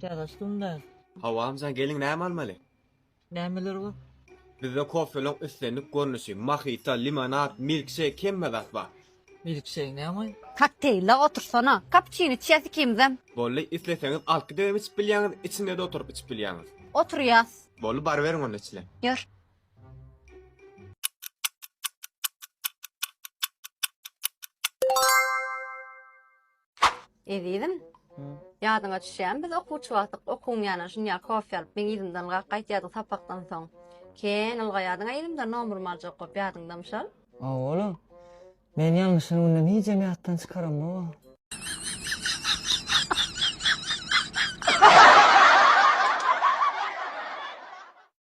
Käbäşdim ben. Hawa amjan geliň näme almaly? Nämeler bar? Bizde kofeleň islendik görnüşi, mahita, limonad, milkşeýk hemme zat bar. Milkşeýk näme? Kokteýle otursana. Kapuçino içýäs ikimizem. Bolly, isleseňiz alkydem içip bilýäňiz, içinde-de oturyp içip bilýäňiz. Oturýas. Bolly baryberiň onda içilen. Ýör. Ezizim, ýadyňa düşýärmi, biz okuwçy wagtlyk okuwyň ýanyna şunýa kofe alyp, meň yzymdan gak gaýtýardyň sapakdan soň. Kän ylgaýardyň-a yzymdan nomurymy aljak bolup, ýadyňdamy şol? Hawa, olam. Men ýalňyşan günden hijem ýatdan çykaramok-a.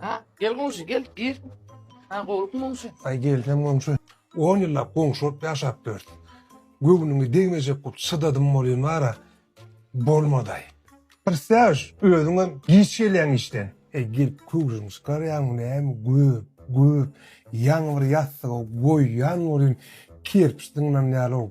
Ha, gel goňşy, gel, gir. Ha, gowlukmy goňşy? Ay gelsem goňşy. On yıllap goňşy bolup yaşap dört. Göwnüňi degmejek bolup çydadym bolýan bara. Bolmaday. Pristyaž, özüň hem giç gelýäň işden. E gel köwşüňi çykarýaňmy näme göp, göp. Ýaňy bir ýassyga goýýan bolýan kerpiç zyňlan ýaly ol.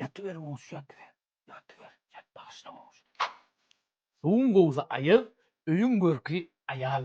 Ýatyber goňşy ýatyber. Ýatyber ýat bagyşla goňşy. Suwuň gowsy aýyg öýüň görki aýal.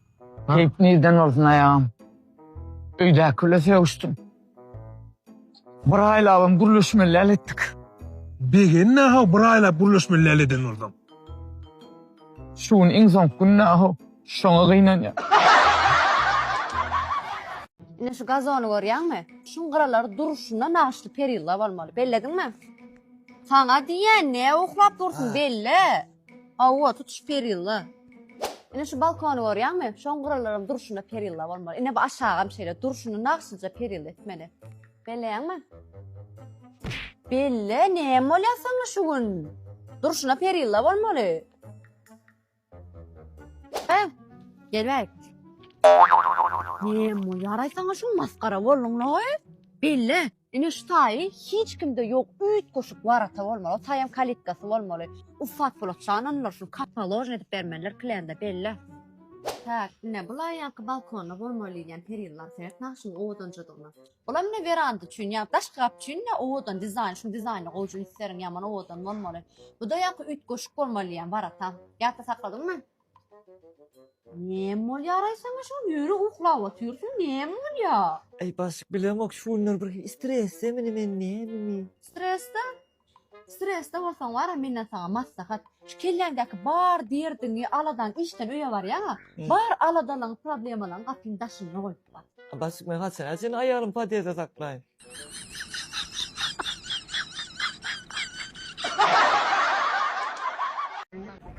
Geýip nirden bolsun aýagym. Öýdäki bile sögüşdim. Bir aýlabam gürleşmeli däl etdik. Begenme-ha, bir aýlap gürleşmeli däl eden bolsaň. Şu gün iň soňky gününe-ha, şoňa gynanýan. Ine şu gazony görýäňmi? Şuň gyralary durşuna nagyşly perilla bolmaly. Bellediňmi? Saňa diýýän, näme uklap dursuň, belle! Hawa, tutuş perilla. Ine şu balkony görýäňmi? Şoň gyralaram durşuna perilla bolmaly. Ine bu aşagam şeýle, durşuny nagşyja perilla etmeli. Belleýäňmi? Belle, näme bolýar saňa şu gün? Durşuna perilla bolmaly. He, gelbäý. Näme bolýar-aý saňa şu gün masgara bolduň-laý? Belle, Ine şu taýy hiç kimde ýok üýtgeşik warata bolmaly taýam kalitkasy bolmaly ussat polat şan onular şul kapaložny edip bermeliler klýanda belli. Täk ine bu laýanky balkonda bolmaly diýýän perýyllar seret nagşynyň owadanjadygyna. Bulam ine weranda üçin ýa daşky gapy üçin ine owadan dizaýn şu dizaýny gowja ünslerin ýaman owadan bolmaly. Buda ýaňky üýtgeşik bolmaly diýýän warata. Ýatda sakladyňmy? Näme bolýaraý saňa şol ýöri uklap otyrsyň näme bolýa. Eý başyk bilemok şu günler bir stresdemini men nämemi. Stresde? Stresde bolsaň bara menden saňa maslahat. Şu kelläňdäki bar derdiňi aladaň işden öýe barýaňa bar aladalaň problemalaň gapyň daşynda goý. Abasyk men haçana çenli aýalymy podýezde saklaýyn?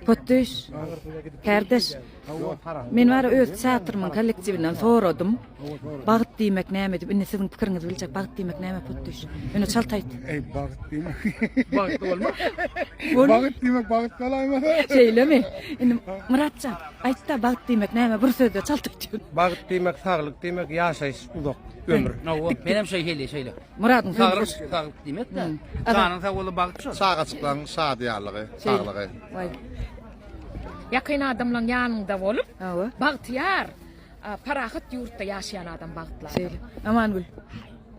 Potdüş, kärdeş, men bara öz teatrymyň kollektiwinden soradym. Bagt diýmek näme diýip, indi siziň pikiriňizi biljek. Bagt diýmek näme potdüş? Ýöne çalt aýt. Eý, bagt diýmek. Bagt bolma. Bagt diýmek bagt galaýma. Şeýlemi? Indi Myratjan, Aýtda bagt diýmek näme bir sözde çalt aýtýan. Bagt diýmek saglyk diýmek ýaşaýyş uzak ömür. Hawa menem şeý hili şeýle. Muradyň sözi saglyk saglyk diýmek de. Janyň sag bolsa bagt şo. Çagajyklaň şadyýanlygy saglygy. Waý. Ýakyn adamlaň ýanyňda bolup Hawa. bagtyýar parahat ýurtda ýaşaýan adam bagtly adam. Şeýle. Amangül.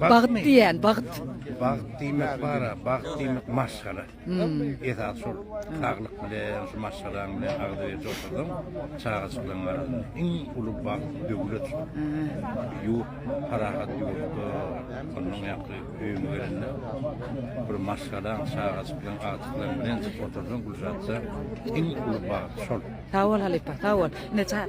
Bagt diýýän, bagt. Bagt diýmek bar-a, bagt diýmek maşgala. Esasy şol saglyk bilen, şu maşgalaň bilen agzybirje otursaň, çagajyklaryň arasynda iň uly bagt, döwlet şol. Ýurt, parahat ýurtda, onnoň ýaňky öýüňe gelende bir maşgalaň, çagajyklaryň, agtyklaryň bilen otursaň, Gülşatjan, iň uly bagt şol. Sag bol halypa, sag bol. Ine, çaý.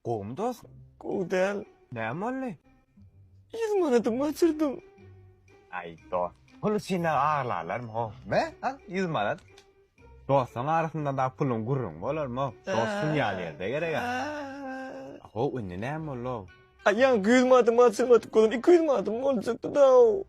Gowumy dos? Gowy däl. Näme boldy? Ýüz manadymy gaçyrdym. Aý dos, pul üçin-ä aglalarmy-ow? Be, al, ýüz manat. Dostuň arasynda-da puluň gürrüňi bolarmy-ow? Dost dünýä nirde gereg-ä? Ho-ow, indi näme boldy-ow? Aý, ýaňky ýüz manatymy gaçyrmadyk bolsam, iki ýüz manatym boljakdy-da-ow.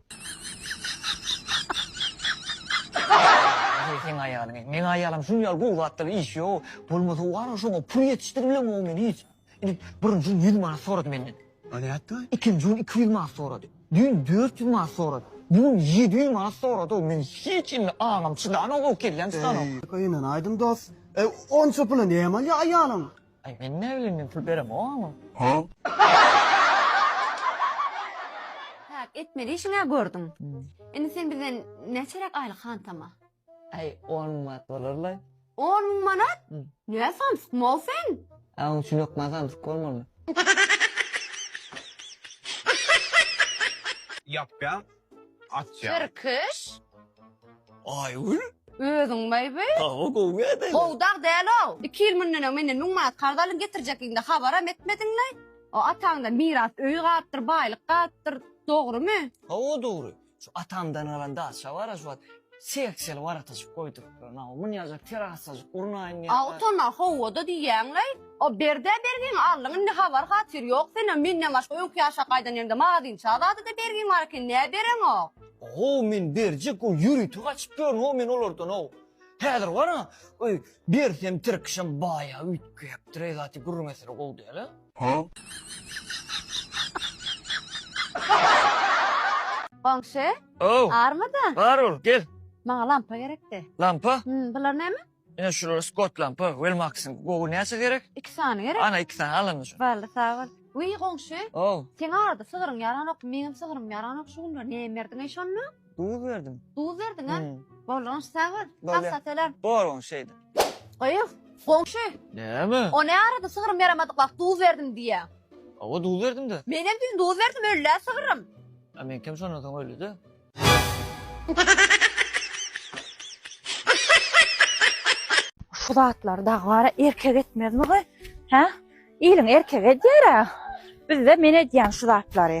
Aý, seň aýalyň-eý, meň aýalym şuny ýaly gowy zatda bir iş ýok. Bolmasa wara şoňa pul ýetişdiriblemok men hiç. Indi birinji gün ýüz manat sorady menden. A nätdi? Ikinji gün iki ýüz manat sorady. Düýn dört ýüz manat sorady. Bu gün ýedi ýüz manat sorady-ow. Men hiç indi aňym çydanok, ow kellem çydanok. Eý, ynyn aýdym dost. E, onça pula näme alýar aýalyň? Aý, men näbileýin, men pul beremok aňa. Hä, etmeli işiň-ä gördüň. Indi sen bizden näçeräk aýlyk hantama? Aý on müň manat bolarlaý. On müň manat? Nä samsyk mol sen? A oň üçin okman samsyk bolmaly. Ýapýan, açýan. Tirkiş. Aýgül. Özüň baýby. Hawa gowy ýa-da. Gowy dag däl-ow. Iki ýyl mundanöň menden müň manat karz alyň getirjekligiňde habaram etmediňlaý. O ataňda miras öýi galypdyr, baýlyk galypdyr. Dogrymy? Hawa dogry. Şu atamdan galan daça bar-a şu wagt seks ýyl warataşyp goýdurupdyr. Naw, munýajak terasajyk gurnaýyn diýen. A utana howada diýýäňlaý. O Berdä bergiň aldyň indi habar hatyr ýok senem menden başga öňki ýaşa gaýdan ýeriňde mazyňça zadada bergiň bar eken nä bereňok. How men berjek how ýörite gaçyp ýörün how men olardan how. Häzir bar-a, öý, bersem tirkişem baýa üýtgäpdir-eý zat gürrüň eseri gowy däl-a. Goňşy, Ow, barmy-da? bar ol, gel. Maňa lampa gerekdi. Lampa? Hum, bular näme? Ine şular Scott lampa, Wellmax-yň. Gowy, näçe gerek? Iki sany gerek. Ana, iki sany, al indi şuny. Boldy, sag bol. Wiý, goňşy, Ow. seň arada sygyryň ýaranok, meňem sygrym ýaranok şu günler. Näme berdiň-eý şonda? Duz berdim. Duz berdiň ha? Bolýan sag bol. Bolýar. Hassa selam. Bor oň şeýde. Gyýw, goňşy, Näme? o ne arada sygrym ýaramadyk wagt duz berdim diýýä. Awa duz berdim-de. Menem düýn duz berdim öl-ä sygrym. A meňkem şondan soň öldi-de. Şu zatlar dagy bara erkek etmezmi gy? Hä? Iliň erkegi edýär-ä. Bizde men edýän şu zatlary.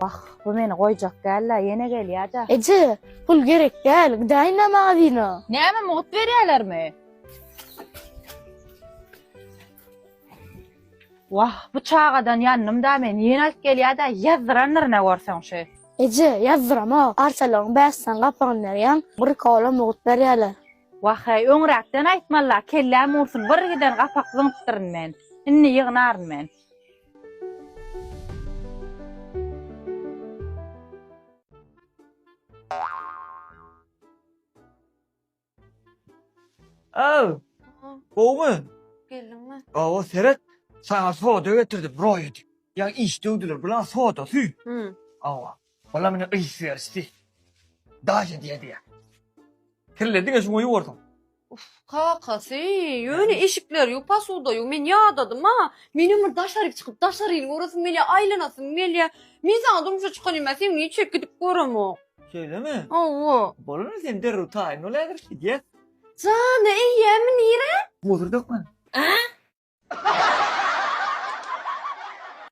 Wah, bu meni goýjak däl-le, ýene gelýär-de. Eje, pul gerek däl, gidäýin-le magazina. Näme, mugt berýärlermi? Wah, bu çagadan ýandym-da men, ýene alyp gelýär-de, ýazdyrandyr ine görseň şu. Eje, ýazdyramok, arçalaryň bäşisini gapagyny berýäň, bir kola mugt berýärler. Wah-eý, öňräkden aýtmaly-la, kelläm ursun, bir giden gapak zyňypdyryn men. Indi ýygnaryn men. Aw! Gowumy? Geldiňmi? Awa, seret, saňa soda getirdim, roýa diýip. Ýa iş döwdüler, bulaň sodasy. Hü. Awa. Olar meni yz berişdi. Daýy diýe diýe. Kirle diňe şuňa ýuwarsyň. Uf, kakasy, ýöne eşikler ýu, posuda ýu, men ýadadym-a. Menem bir daşaryk çykyp, daşaryny göresim gelýär, aýlanasym gelýär. Men saňa durmuşa çykanymda sen meni içerik gidip göremok. Şeýlemi? Hawa. Bolany sen derrew taýyn bol häzir, gidýäs. Jana eýýämi, nirä? Hozir dökmen.